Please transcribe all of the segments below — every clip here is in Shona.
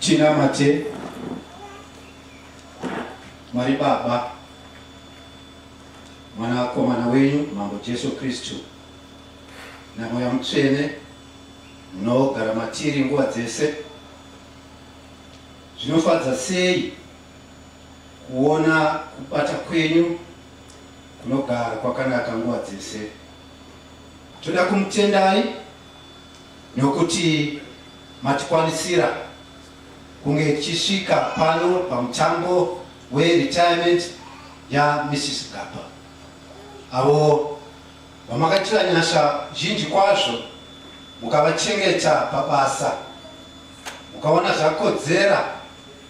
Chinamate Mwari Baba mwanakomana wenyu mambo jesu kristu namweya mutsvene munogara matiri nguva dzese zvinofadza sei kuona kubata kwenyu kunogara kwakanaka nguva dzese. Toda kumutendai nokuti matikwanisira kunge tichisvika pano pamutambo weretirement yaMrs Gapa avo vamakatira nyasha zhinji kwazvo mukavachengeta pabasa mukaona zvakodzera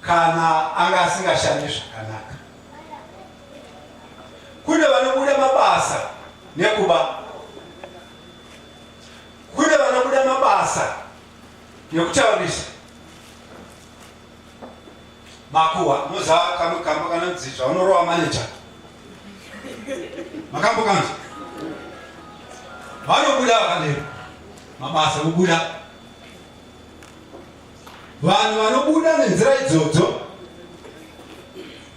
kana anga asingashandi zvakanaka. Kune vanobuda mabasa nekuba, kune vanobuda mabasa nekutaurisa makuwa muza kamwe kambo kanonzi zvaunorowa maneja makambo kanzi vanobuda vakadero mabasa obuda Vanhu vanobuda nenzira idzodzo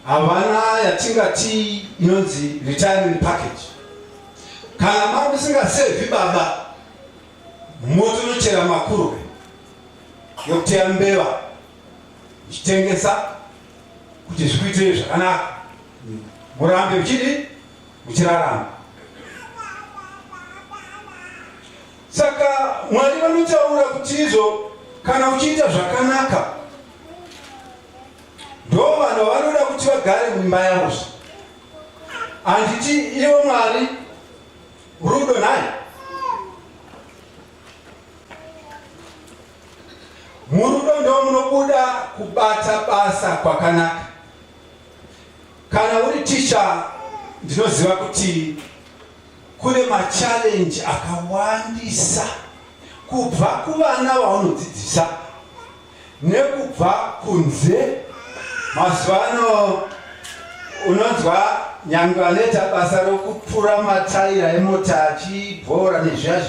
havana yatingati inonzi retirement package. Kana mari musingasevhi baba, motonochera makurwe yokuteya mbeva ichitengesa kuti zvikuitirei zvakanaka, murambe muchidi muchirarama. Saka Mwari vanotaura kuti izvo kana uchiita zvakanaka ndo vanhu vanoda kuti vagare mumba yavo zve handiti ivo Mwari rudo nhai murudo ndo munobuda kubata basa kwakanaka kana uri ticha ndinoziva kuti Kune machallenge akawandisa kubva kuvana vaunodzidzisa nekubva kunze. Mazuva ano unonzwa nyangwe anoita basa rokupura mataira emota achibhora nezviya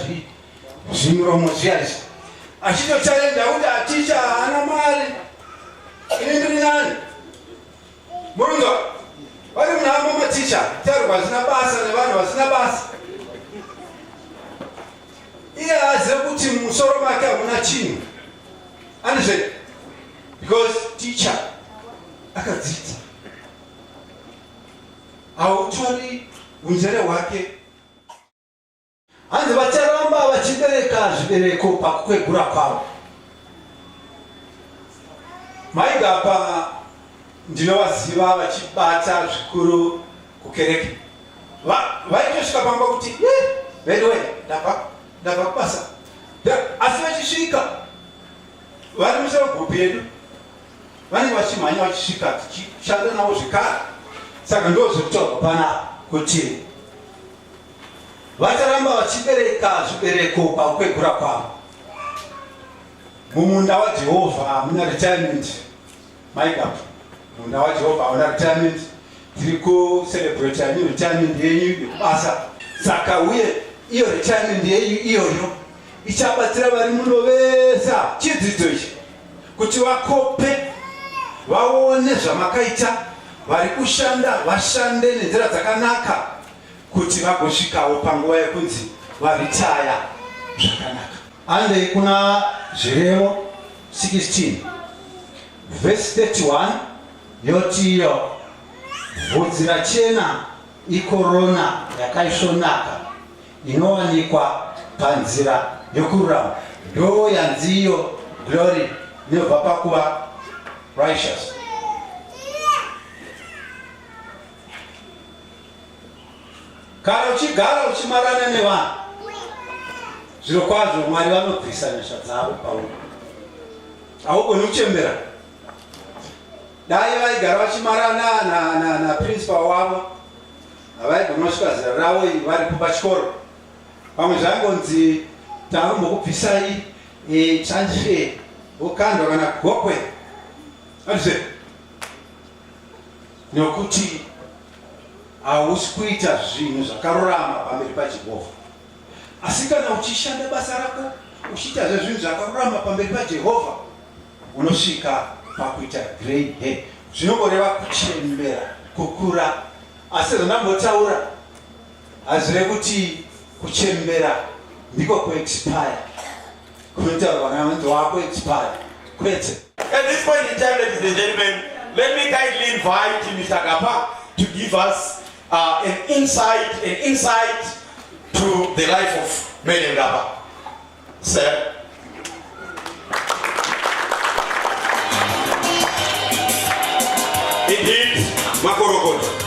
zvimuromo zviya izvi achitochalenja kuti aticha haana mari ini ndiri nani Munonzwa? Vari munhamo maticha taurwa hazvina basa nevanhu vasina basa. Iye haazive kuti mumusoro make hamuna chinhu. Andizve? Because ticha akadzidza. Hautori unjere hwake Hanzi vacharamba vachibereka zvibereko pakukwegura kwavo. Maigapa ndinovaziva vachibata zvikuru kukereke. Vaitosvika pamba kuti veduwe ndava kubasa asi vachisvika vari musoro gupi yedu vanenge vachimhanya vachisvika tichishanda navo zvekare saka ndozvekutaurwa pana kuti Vacharamba vachibereka zvibereko pakukwegura kwavo. Mumunda waJehovha hamuna retirement. Mai baba, munda waJehovha hauna retirement. Tiri kucelebrate new retirement yenyu yekubasa. Saka uye iyo retirement yenyu iyoyo ichabatsira vari muno vese chidzidzo ichi kuti vakope vaone zvamakaita vari kushanda vashande nenzira dzakanaka kuti vagosvikawo panguva yekunzi varitaya zvakanaka. Handei kuna Zvirevo 16 vhesi 31 yoti iyo vhudzi rachena ikorona yakaisvonaka inowanikwa panzira yokururama ndo yanziyo glory inobva pakuva righteous Kana uchigara uchimarana nevanhu, zviro kwazvo Mwari vanobvisa nyasha dzavo pauri. Haugoni kuchembera. Dai vaigara vachimarana na, na, na principal wavo havaigona kusvika zera ravo varipo pachikoro. Pamwe zvaingonzi tarumbokubvisai e, eh, transfer vokandwa kana gokwe. Hazvizve. Nokuti hausi kuita zvinhu zvakarurama pamberi paJehovha. Asi kana uchishanda basa rako uchiitazve zvinhu zvakarurama pamberi paJehovha, unosvika pakuita grey hair. Zvinongoreva kuchembera, kukura. Asi zvandambotaura hazvireve kuti kuchembera ndiko kuexpire. Kunotaurwa naMunzi wako expired. Kwete. At this point in time, ladies and gentlemen, let me kindly invite Mr. Kapa to give us uh, an insight, an insight to the life of Madam Kapa. Sir. Indeed, Makorokoto.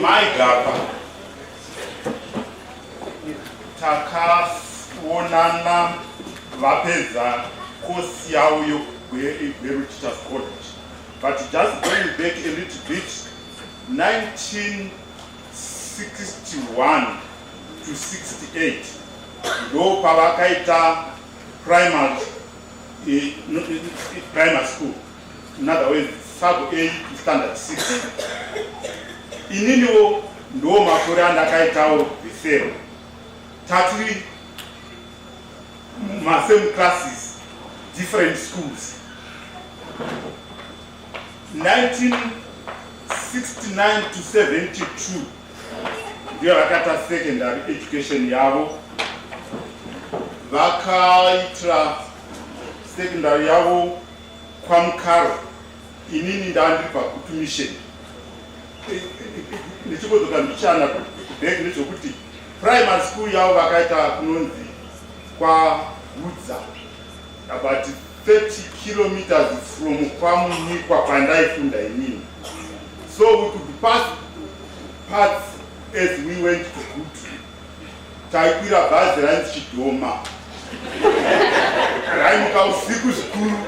Mai Gapa, takaonana vapedza kosi yavo yegweru teachers college but just going back a little bit 1961 to 68 ndo pavakaita primary, eh, primary school In other words, sub 8 standard 6 ininiwo ndo makore andakaitawo zero tatiri masame classes different schools 1969 to 72 ndiyo vakata secondary education yavo vakaitira secondary yavo kwaMukaro inini ndandibva kutumission ndichimbozoka mbichana kubheki nezvokuti primary school yavo vakaita kunonzi kwahudza about 30 kilometers from kwamunyikwa kwandaifunda inini so we could pass parts as we went to gutu taikwira bhazi rainzi chidhoma raimuka usiku zvikuru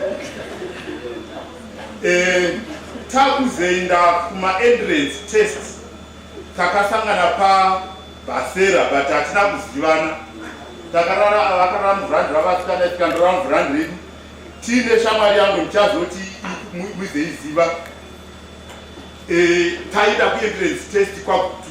eh, takuzoenda kumaentrance test takasangana pabhasera but hatina kuzivana takarara vakarara muvhurandi ravasikana tikandorara muvhurandi redu tiine shamwari yangu ndichazoti muizoiziva eh, taida kuentrance test kwakuti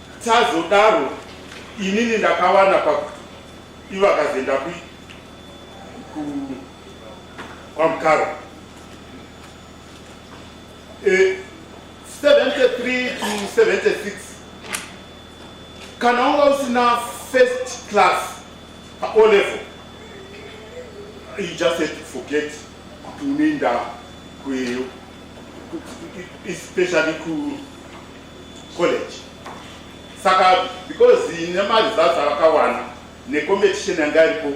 Tazodaro inini ndakawana pa ivakazenda ku ku kwa mkaro e, 73 to 76 kana unga usina first class pa o level you just have to forget kuti unoenda kweyo especially ku college saka because nemaresults avakawana necompetition yanga iripo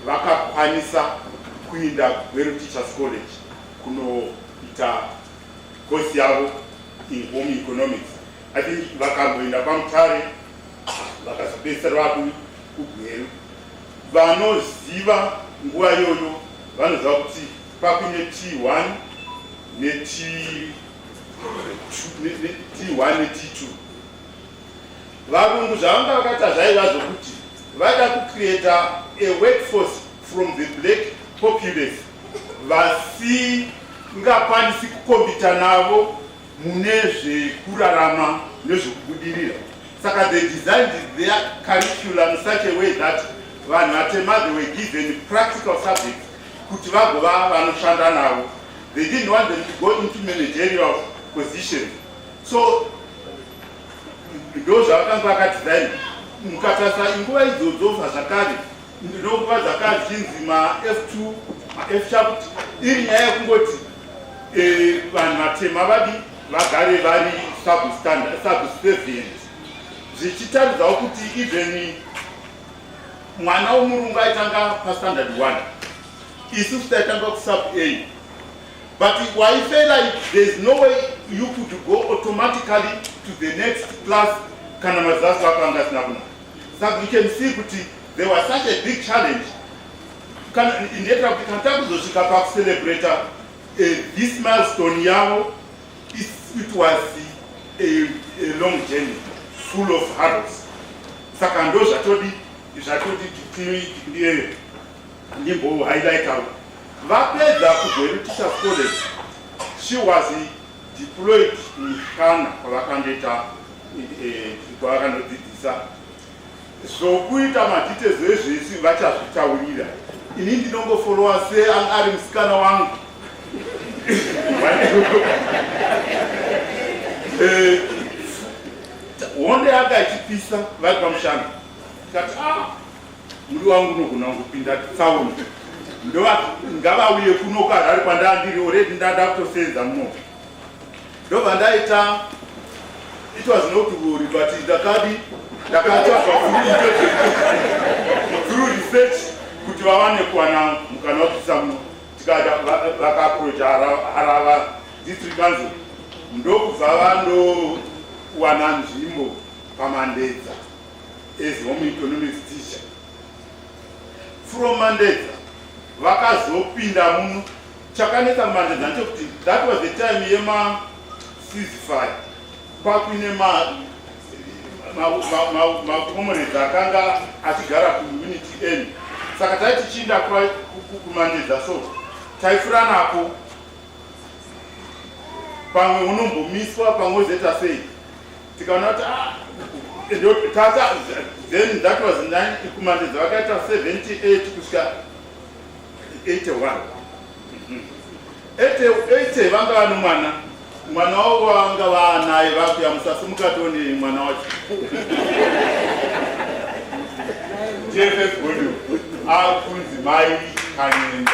vakakwanisa kuinda kugweru teachers college kunoita kosi yavo in home economics i think vakamboenda kwamutare vakazopedzisira vaku kugweru vanoziva nguva iyoyo vanoziva kuti pakuine t1 neti t1 net2 varungu zvavanga vakaita zvaiva zvokuti vaida kucreata a workforce from the black populace vasingakwanisi kukombita navo mune zvekurarama nezvekubudirira saka the designed their curriculum such a way that vanhu vatema they were given practical subjects kuti vagova vanoshanda navo They didn't want them to go into managerial position. So, ndo zvakanga akadesign mukatasa inguva idzodzofa zvakare ndinokuva zvakare zvinzi maf2 maf chakuti iri nyaya yekungoti eh, vanhu vatema vadi vagare vari subservient zvichitaridzawo kuti even mwana womurungu aitanga pastandard one isusu taitanga kusub a but waife like there's no way you could go automatically to the next class kana mazaso ako anga asina kuna saka you can see kuti there was such a big challenge kana ndiyetira kuti kana takuzosvika pakucelebrata eh, this milestone yavo it was a, a long journey full of harrows saka ndo zvatodi zvatodi ndiye Nyimbo haidaikawo vapedza kuGweru Teachers College she was deployed mushana kwavakandoita eh, kwavakandodzidzisa zvokuita madetails ezvese vachazvitaurira ini ndinongofolowa se ari musikana wangu eh, honde yanga ichipisa vari pamushana tikati ah Muri wangu unogona kupinda tsauni ndova ngavauye kuno kuharare kwandandiri oredi ndada kutosenza muno ndobva ndaita it was not worry but ndakadi ndakatsvaga through research kuti vawane kuwana mukana wekuisa muno tikada vakaproja harava district council ndokubva vandowana nzvimbo pamandedza as home economics teacher from mandedza vakazopinda muno chakanetsa mandedza ndechokuti that was the time yema sizify pakuine makomrades akanga achigara kuunity end saka tai tichiinda kumandedza so taifuranapo pamwe unombomiswa pamwe ozoita sei tikanoti ah, ndotata then that was 9 kumandedza vakaita 78 kusvika 81 80 vanga vano mwana mwana wavo vanga vaanaye vakuya musasi mukatoni mwana wacho jff godu akunzi mai kanyenga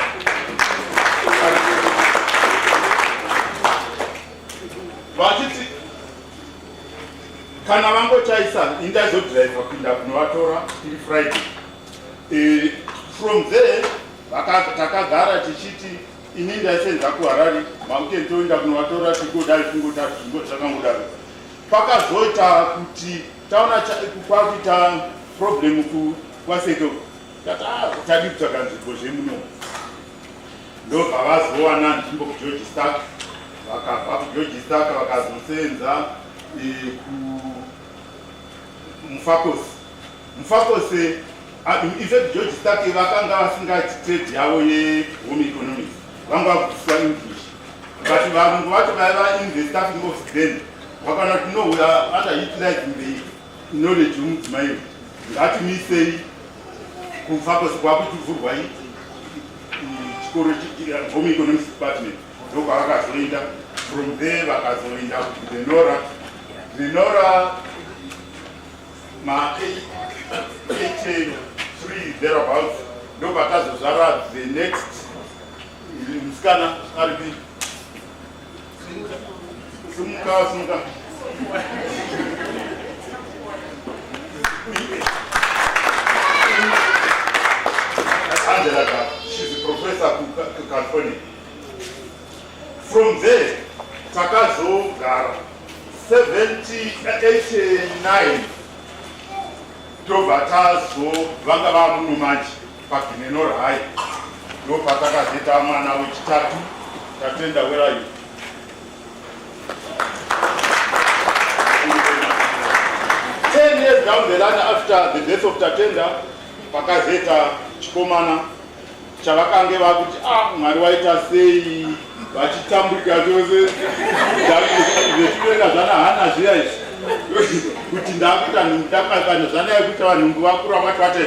vachiti kana vangochaisa indazodriver kuinda kunovatora iri friday e, from there takagara tichiti ini ndaisenza kuharari makuti toenda kunovatora tigodai kungodaro zvingo zvakangodaro pakazoita kuti taona kwakuita problem kwaseke tati ah, tadi kutsvaka nzvimbo zvemunomu ndopavazowana nzvimbo kugeorge stark vakabva kugeorge stark vakazoseenza eh, kumufakosi mufakosi ah, infact george stark vakanga vasingati trade yavo yehome economics vanga vakudziswa english but varungu vacho vaiva in the staffing office then vakaona kuti no we are under utilizing the Knowledge yomudzimai uyu ngatimisei kufa kwese kwakutuvhurwai chikoro home economics department ndokwavakazoenda from there vakazoenda kudenora denora ma 83 thereabouts ndopakazozvara the next musikana aripi Simuka, simuka. Angela, she's a professor to California. From there, Takazo Gara, 79, Tobatazo, Vangava Munumaji. Paginenor High ndopatakazeta mwana wechitatu Tatenda Werayu ten years down the line after the death of Tatenda pakazeta chikomana chavakange vakuti ah mwari waita sei vachitambuka chose zvekuenda zvana hana zviya izvi kuti ndakuita ndakakana zvana yekuti vanhu vakura vati vate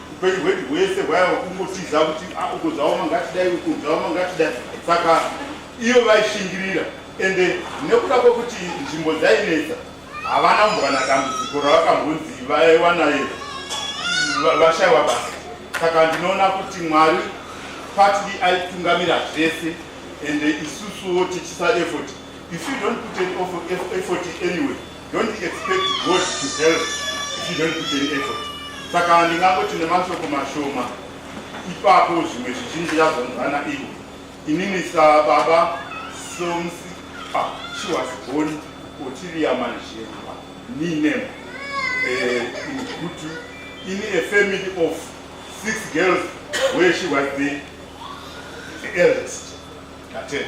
upenyu hwedu hwese hwaiva kungotiza kuti ah, uko zvaoma ngatidai uko zvaoma ngatidai saka iyo vaishingirira ende nekuda kwekuti nzvimbo dzainetsa havana kumbwana dambudziko ravakambonzi vaiwanayo vashaiwa basa saka ndinoona kuti mwari partly aitungamira zvese ende isusuwo tichisa effort if you don't put an effort anyway Don't expect God to help if you don't put any effort. Saka ndingangoti nemashoko mashoma ipapo zvimwe zvizhinji yazonzana ivo. Inini sababa Somsi ah, she was born Otilia Manjemba, ni name uh, in Kutu, in a family of six girls where she was the, the eldest. That's it.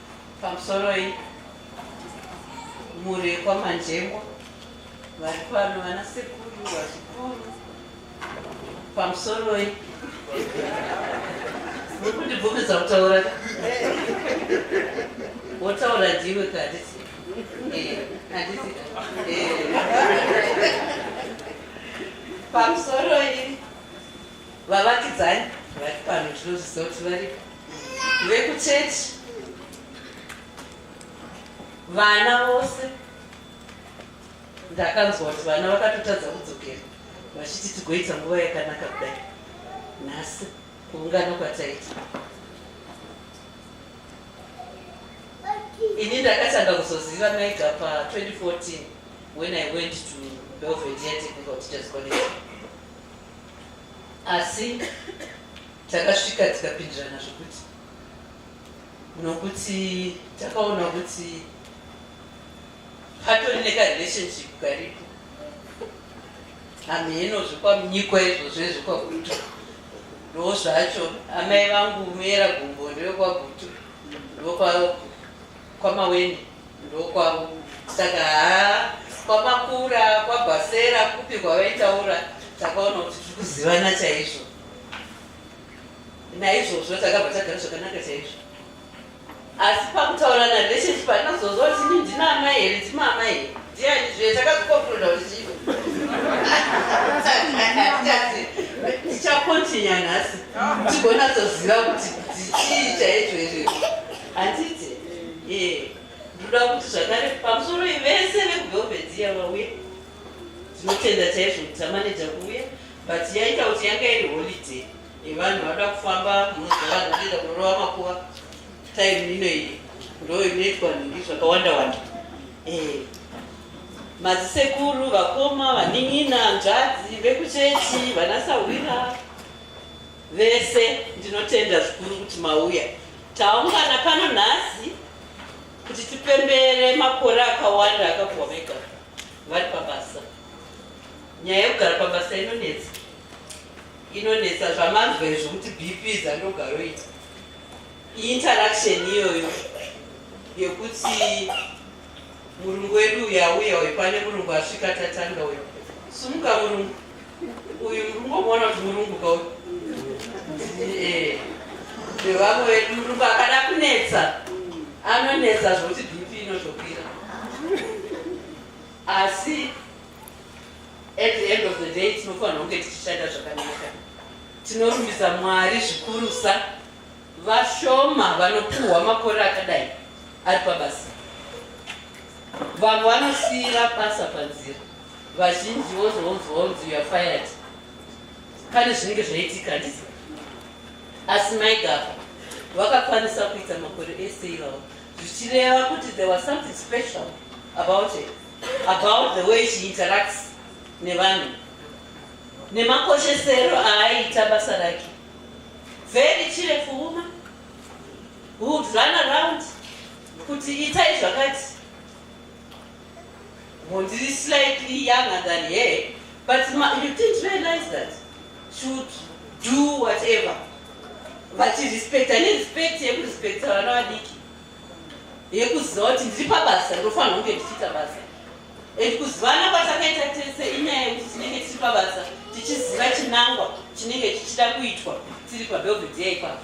Pamusoroi mhuri yekwaManjengwa vari pano vana sekuru vazukuru pamusoroi muri kundibvumidza kutaura wotaura ndiwe kadisi eh, eh. pamusoroi vavakidzani vari pano tinozviziva kuti varipo vekuchechi vana vose ndakanzwa kuti vana vakatotadza kudzokera vachiti tigoita nguva yakanaka kudai nhasi kuungana kwataita ini ndakatanga kuzoziva mega pa 2014 when i went to belvedea technical teachers college Asi takasvika tikapindirana zvekuti nokuti takaona kuti patori nekarelationship karipo hamheno zvekwanyikwa izvozvo ezvekwagutu ndoo zvacho amai vangu muyera gumbo ndewekwagutu ndokwa kwamaweni Ndokwavo saka haa kwamakura kwabhasera kupi kwavaitaura takaona kuti tiri kuzivana chaizvo naizvozvo takabva tagara zvakanaka chaizvo asi pakutaura narelationship panazozova kuti ini ndina amai here ndima amai here ndiani zve takazokokuroda kuti chii tichakontinya nhasi tigonatsoziva kuti dzichii chaizvo izvezvo Handiti? Eh, ndinoda kuti zvakare pamusoro vese vekuvelvet iya vauye. Tinotenda chaizvo kuti tamaneja kuuya but yaita kuti yanga iri holiday yevanhu vanoda kufamba munoziva vanhu vanoenda kunorova makuva time ino iyi ndo inoitwa nhingi zvakawanda wanda. Eh, mazisekuru, vakoma, vanin'ina, nzvadzi, vekuchechi, vanasahwira. Vese ndinotenda zvikuru kuti mauya. Taungana pano nhasi kuti tipembere makore akawanda akabva vega vari pabasa. Nyaya yekugara pabasa inonetsa, inonetsa zvamanzwa izvo kuti BP dzandogaroita interaction iyoyo yekuti murungu wedu uyu auya uyu pane murungu asvika tatanga uyu sumuka murungu uyu murungu omona kuti murungu ka uyu eh, nevamwe vedu murungu akada kunetsa anonetsa zvokuti bp inotokwira asi at the end of the day tinofanira kunge tichishanda zvakanaka tinorumbisa mwari zvikurusa vashoma vanopuhwa makore akadai ari pabasa vamwe vanosiira basa panzira vazhinji vozonzwa unzi youare fired pane zvinenge zvaitika handisi asi maigapa vakakwanisa kuita makore ese ivavo zvichireva kuti there was something special about it about the way she interacts nevanhu nemakoshesero aaiita basa rake very cheerful woman would run around kuti itai zvakati Well, this is slightly younger than her, but ma, you didn't realize that. Should do whatever. But respect, I need respect, you respect her, no adiki. yekuziva kuti ndiri pabasa ndofanira kunge ndichiita basa and kuzivana kwatakaita tese inyaya yekuti tinenge tiri pabasa tichiziva chinangwa chinenge chichida kuitwa tiri pabelvedea ipapo